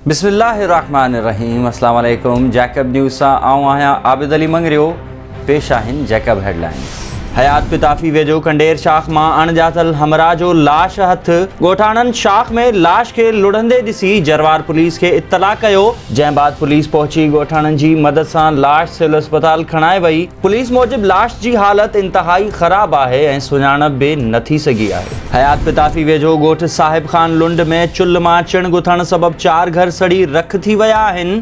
بسم الله الرحمن الرحيم السلام عليڪم جيڪب نيوز سان آئون آهيان عابد علي مڱريو پيش آهن جيڪب هيڊلائنز حيات پتافي ويجهو کنڊير شاخ مان اڻڄاتل همراهه جو لاش هٿ ڳوٺاڻن شاخ ۾ لاش کي لڙهندي ڏسي جروار پوليس کي اطلاع ڪيو جنهن بعد پوليس پهچي ڳوٺاڻن جي مدد سان لاش سول اسپتال کڻائي وئي، پوليس موجب لاش جي حالت انتهائي خراب آهي ۽ سڃاڻپ به نه ٿي سگهي آهي. حيات پتافي ويجهو ڳوٺ صاحب خان لنڊ ۾ چلهه مان چڻ گٿڻ سبب چار گهر سڙي رک ٿي ويا آهن،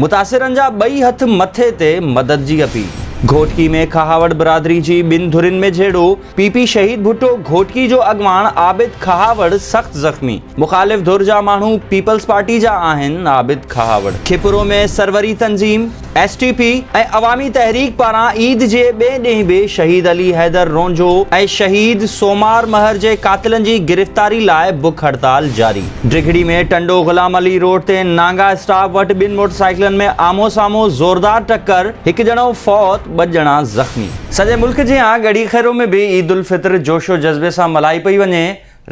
متاثرن جا ٻئي هٿ مٿي تي، مدد جي اپيل. گهوٽڪي ۾ کهاوڙ برادري جي ٻن ڌرين ۾ جهيڙو، پي پي شهيد ڀٽو گهوٽڪي جو اڳواڻ عابد کهاوڙ سخت زخمي، مخالف ڌر جا ماڻهو پيپلز پارٽي جا آهن، عابد کهاوڙ. کپرو ۾ سروري تنظيم، S T P ۽ Awami Tehreek پاران عيد جي ٻئي ڏينهن به شهيد علي حيدر رونجهو ۽ شهيد سومار مهر جي قاتلن جي گرفتاري لاء بک هڙتال جاري ڊگهڙي ۾ ٽنڊو غلام علي روڊ تي نانگا اسٽاپ وٽ ٻن موٽرسائيڪلن ۾ آمهون سامهون زوردار ٽڪر، هڪ ڄڻو فوت ٻه ڄڻا زخمي. سڄي ملڪ جيان ڳڙهي خيرو ۾ به عيد الفطر جوش و جذبي سان ملهائي پئي وڃي،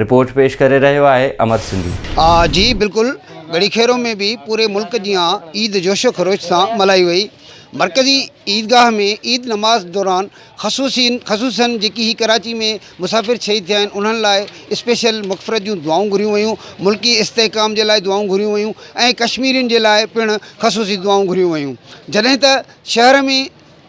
رپورٽ پيش ڪري رهيو آهي امر سنڌي. جي بلڪل ڳڙهي خيرو ۾ به پوري ملڪ جيان عيد جوش و خروش سان ملهائي وئي، مرڪزي عيدگاهه ۾ عيد نماز دوران خصوصين خصوصن جيڪي هي ڪراچي ۾ مسافر شهيد ٿيا آهن انهن لاء اسپيشل مغفرت جون دعائون گهريون ويون، ملڪي استحڪام جي لاء دعائون گهريون ويون ۽ ڪشميرين جي لاء پڻ خصوصي دعائون گهريون ويون جڏهن ته شهر ۾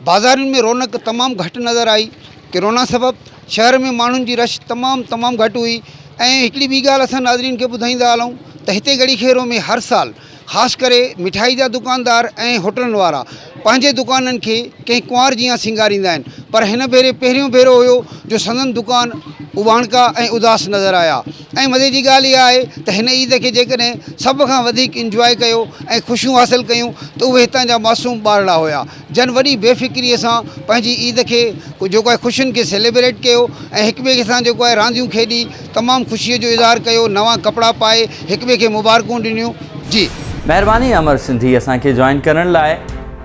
بازارين ۾ رونق تمام گهٽ نظر آئي، ڪرونا سبب شهر ۾ ماڻهن جي رش تمام تمام گهٽ هئي ۽ هڪڙي ٻي ڳالهه اسان ناظرين کي ٻڌائيندا هلون ته هتي ڳڙهي خيرو ۾ هر سال خاص ڪري مٺائي جا دڪاندار ۽ هوٽلن وارا پنهنجي دڪانن کي ڪنهن ڪنوار جيان سينگاريندا آهن پر هن ڀيري پهريون ڀيرو هيو جو سندن دڪان اٻاڻڪا ۽ اداس نظر آيا ۽ مزي جي ڳالهه اها آهي ته هن عيد کي جيڪڏهن سڀ کان وڌيڪ انجواء ڪيو ۽ خوشيون حاصل ڪيون ته اهي هتان جا معصوم ٻارڙا هيا جن وڏي بي فڪريء سان پنهنجي عيد کي جيڪو آهي خوشين کي سيليبريٽ ڪيو ۽ هڪ ٻئي سان جيڪو آهي رانديون کيڏي تمام خوشيء جو اظهار ڪيو نوان ڪپڙا پائي هڪ ٻئي کي مبارڪون ڏنيون جي. مهرباني امر سنڌي اسان کي جوائن ڪرڻ لاء.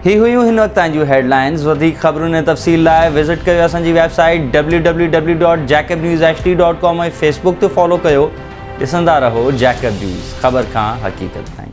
هي هيون هن وقت تائين جون هيڊ لائنز وڌيڪ خبرن ۽ تفصيل لاء وزٽ ڪيو اسان جي website W W W dot Jacob news H D dot com ۽ Facebook تي فالو ڪيو ڏسندا رهو جيڪب نيوز خبر کان حقيقت تائين.